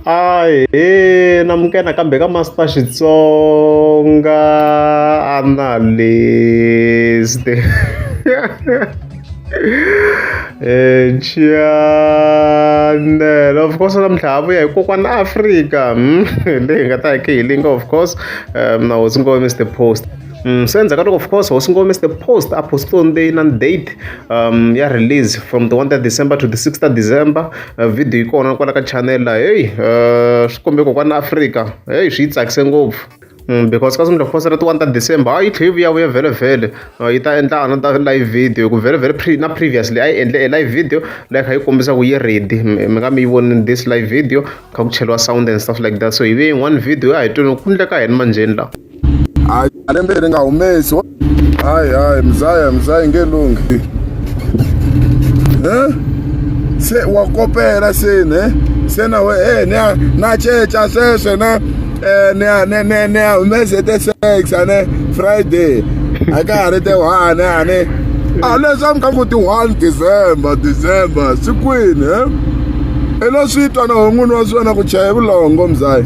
Ahee na muka nakambe ka Master Xitsonga Analyst Chanel of course namuntlha ha vuya hi kokwana Afrika leyi hi nga ta hi hi linga of course na hosi ngo Mr Post Mm, so endzhaku ka loko of course hosi ngome is the post apostolic day na date um, ya release from the 1 ta december to the 6 ta december vhidiyo yi kona kwala ka channel la heyi swi kombe ko kwani afrika heyi swi yi tsakise ngopfu Mm, because ka sungula fosera ti-one ta december a yi tlhe yi vuyavuya vhelevhele yi ta endla ana ta live video hi ku vhelevhele pre na previously a yi endle e live video leyi kha yi kombisa ku yi ready mi nga mi yi voni this live video kha ku cheliwa sound and stuff like that so hi ve yin'wana video a hi twini ku ndleka hini manjheni lawa hayi malembe leri nga humesi hayi hayi mzaya mzaya nge lunghi eh? se wa kopela se ne se na we e ne na ceca sweswe ne eh, ne ne ne ne humese te sex ne friday a ka ha ri te one a ne a ah, leswi a mi ka ku ti one december december sikwini eh? i lo swi twa na hon'wini wa swona ku chaya vulongo mzayi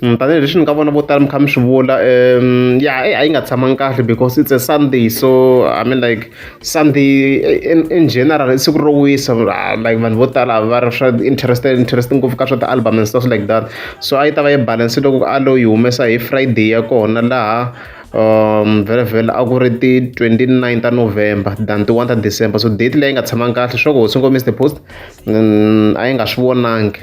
tanihileswi ni nga vona vo tala mi kha mi swi vula um ya a yi nga tshamangi kahle because it's a sunday so i mean like sunday in, in general i siku ro wisa ah, like vanhu vo tala va ri swa interested interested ngopfu ka swa ti-album and stuff like that so a yi ta va yi balance loko a lo yi humesa hi friday ya kona laha um vhele vhele a ku ri ti-29 ta november than ti-1 ta december so date leyi nga tshamangi kahle swa ku hosi ngomiste post mm, a yi nga swi vonangi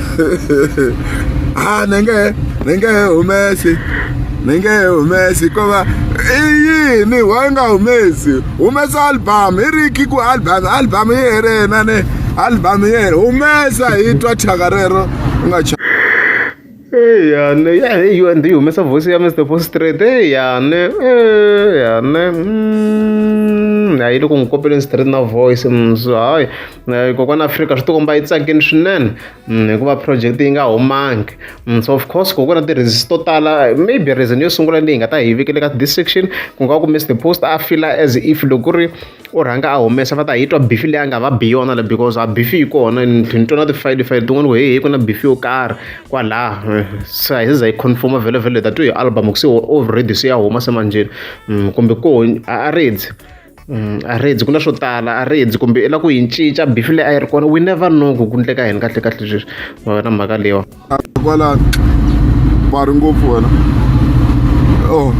ah ni nge ni nge humesi ni nge humesi ko va i yini why nga humesi humesa album i ri ki ku album album yi herena ni album yi here humesa hi twa thyaka rero u nga eya ne ya hi yo ndi humesa voice ya Mr Post Straight eya ne eya ne mm, hayi loko n'wi kopeleni straight na voice mso mm, hayi eh, kokwana afrika swi tikomba yi tsakini swinene mm, hikuva project yi nga humangi mm, so of course kokwana ti-reasons to tala maybe reason yo sungula leyi nga ta hi vikele ka this section ku nga ku mr post a fila as if loko ku ri u rhanga a humesa va ta hi twa bifi leyi a nga va bi yona le because a bifi yi kona ni twa na tifayili fayili tin'wana ku hehe ku na bifi yo karhi kwalaha eh, se a hi za yi confirma vhele vhele ta twi hi album ku se already se ya huma semanjeni mm, kumbe ko a a ridzi a ri endzi ku na swo tala a ri endzi kumbe i la ku yi cinca bifi leyi a yi ri kona we never know ku ku ndleka yini kahle kahle sweswi ma wena mhaka leyiwa kwalano va ri ngopfu wena o oh.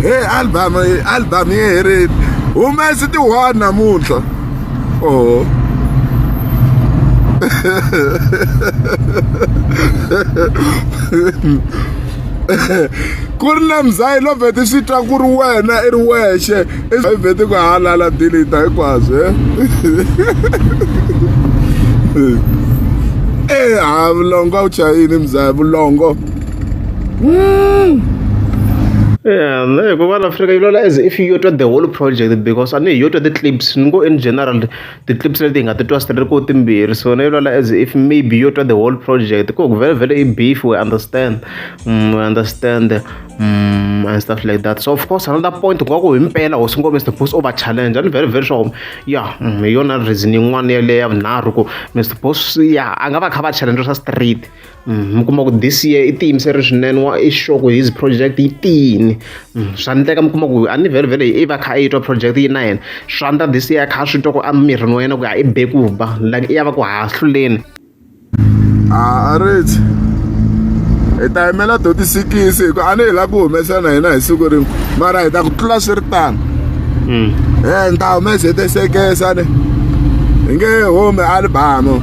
he album album yi herile humesi ti one namuntlha o oh. ku ri na mzayi no vhete swi twa ku ri wena i ri wexe i vhete ku halala dilita hinkwaswo e ha vulongo a wu chayini mzayi vulongo Yeah, no, hikuva la Afrika yi lula as if yo twa the whole project because a ni hi yo twa ti-clips ni ngo in general ti-clips leti hi nga ti twa swi ri ku timbirhi so na yona as if maybe yo twa the whole project ku ku vele vele i beef we understand mm, we understand mm, and stuff like that so of course another point ku nga ku himpela hosi ngome is supposed over challenge and very very sure ya mm, hi yona reason yin'wana yeleyo ya vunharhu ku mr boss ya a nga va kha va challenge swa street mi kuma ku this year i tiyimiseri swinene wa i sure ku his project yi tiyini mm, swa ndleka mi kuma ku a ni vhele vhele i va kha a yi twa project yi na yena swa ndla this year kha swi twa ku a mirini wa yena ku ya i be ku ba like i ya va ku hahluleni a a rich hi ta yimela to tisikisi hi ku a ni hi lava ku humesa na hina hi siku rin'we mara hi ta ku tlula swi ri tano mm. e ni ta humesa hi tisekesane hi nge humi alibamo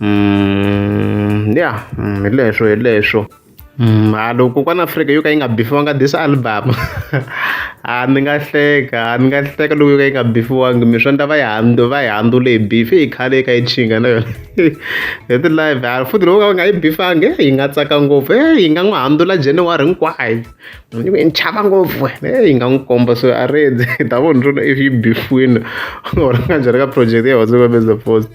Mm, ya mm, hi leswo hi leswo mm, a loko kokwana afrika yo ka yi nga bifiwanga this album a ni nga hleka a ni nga hleka loko yo ka yi nga bifiwangi mi swa ndla va yi handu va yi handzule hi bifi yi khale yi ka yi chinga na yona hi ti-live a futhi loko ka va nga yi bifangi yi nga tsaka ngopfu e yi nga n'wi handzula january hinkwayo ni ve ni chava ngopfu heyi nga n'wi komba so a rindze hi ta vona rona if yi bifwini or nga njhani ka project ya whatsapp ka mesa post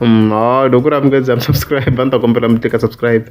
mm, ha loko ku ri amukezi am subscribe a ni ta kombela mi tika subscribe